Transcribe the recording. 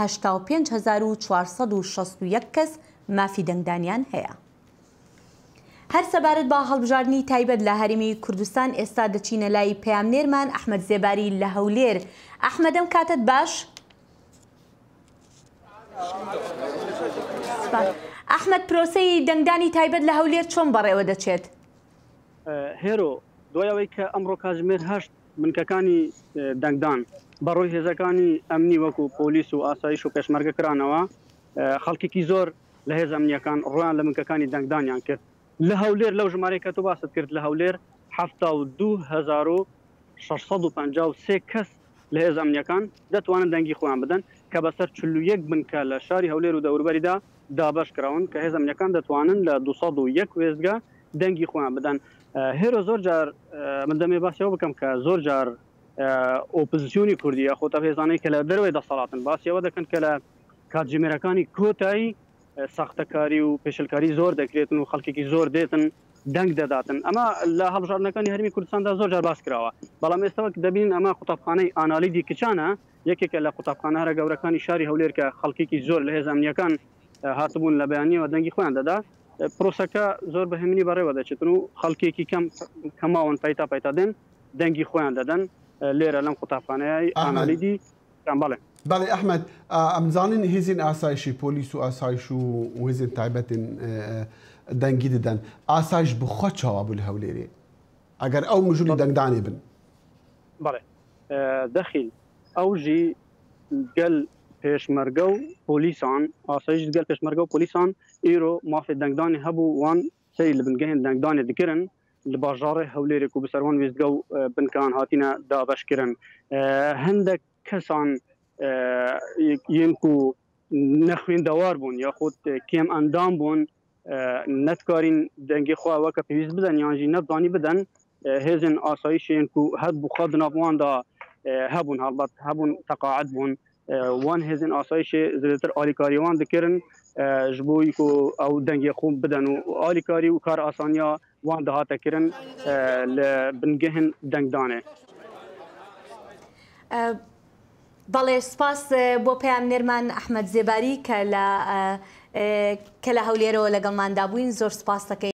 هەشتا و پێنج هەزار و چوار سەد و شەست و یەک کەس مافی دەنگدانیان هەیە. هەر سەبارەت بە هەڵبژاردنی تایبەت لە هەرێمی کوردستان ئێستا دەچینە لای پەیامنێرمان ئەحمەد زێباری لە هەولێر. ئەحمەد ئەم کاتەت باش؟ ئەحمەد پرۆسەی دەنگدانی تایبەت لە هەولێر چۆن بەڕێوە دەچێت؟ هێرۆ، دوای ئەوەی کە ئەمڕۆ کاتژمێر هەشت بنکەکانی دەنگدان بەڕووی هێزەکانی ئەمنی وەکو پۆلیس و ئاسایش و پێشمەرگە کرانەوە، خەڵکێکی زۆر لە هێزە ئەمنییەکان ڕوویان لە بنکەکانی دەنگدانیان کرد. لە هەولێر لەو ژمارەی کە تۆ باست کرد لە هەولێر حەفتا و دوو هەزار و شەش سەد و پەنجا و سێ کەس لە هێزە ئەمنییەکان دەتوانن دەنگی خۆیان بدەن کە بەسەر چل و یەک بنکە لە شاری هەولێر و دەوروبەریدا دابەش کراون کە هێزە ئەمنییەکان دەتوانن لە دوو سەد و یەک وێستگە دەنگی خۆیان بدەن هێرۆ زۆر جار من دەمێ باسی ئەوە بکەم کە زۆر جار ئۆپزسیۆنی کوردی یاخۆ تا هێزانەی کە لە دەروێ دەسەڵاتن باسی ئەوە دەکەن کە لە کاتژمێرەکانی کۆتایی ساختەکاری و پێشلکاری زۆر دەکرێتن و خەڵکێکی زۆر دێتن دەنگ دەداتن ئەمە لە هەڵژاردنەکانی هەرمی کوردستاندا زۆر جار باس کراوە بەڵام ئێستاوەک دەبین ئەمە قوتابخانەی ئانالیدی کچانە یەکێکە لە قوتابخانە هەرە گەورەکانی شاری هەولێر کە خەڵکێکی زۆر لە هێزانیەکان هاتبوون لە بەیانیەوە دەنگی خۆیان دەدا پرۆسەکە زۆر بە هەمینی بەڕێوە دەچێتن و خەڵکێکی کەم کە ماون پەیتا پەیتا دێن دەنگی خۆیان دەدەن لێرە لەم قوتابخانەیە ئانالیدی کام بەڵێ بەڵێ ئەحمد ئەمزانین هیزین ئاسایشی پۆلیس و ئاسایش و وێزین تایبەتین دەنگی دەدەن ئاسایش بخوا چاوا بوو لە هەولێرێ ئەگەر ئەو مژولی دەنگدانێ بن بەڵێ دەخیل ئەوژی گەل پێشمەرگە و پۆلیسان ئاسایش گەل پێشمەرگە و پۆلیسان ئیرۆ مافێ دەنگدانێ هەبوو وان سەری لە بنگەێن دەنگدانێ دکرن لە باژاڕێ هەولێرێ کوو بسەروان وێستگە و بنکەان هاتینە دابەش کرن هەندەک کەسان یێن کوو نەخوێندەوار بوون یا خۆت کێم ئەندام بوون نەتکارین دەنگی خوا وەکە پێویست بدەن یانژی نەبزانی بدەن هێزن ئاسایشێن کوو هەبوو خوا بناواندا هەبوون هەڵبەت هەبوون تەقاعد بوون وان هێزن ئاسایشێ زێدەتر ئالیکاریێ وان دکرن ژ بۆ ی کو ئەو دەنگێ خوم بدەن و ئالیکاری و کار ئاسانیا وان دهاتە کرن لە بنگهن دەنگدانێ. بەڵێ سپاس بۆ پەیامنێرمان ئەحمەد زێباری کە لە کە لە هەولێرەوە لەگەڵماندا بووین زۆر سپاستەکەین.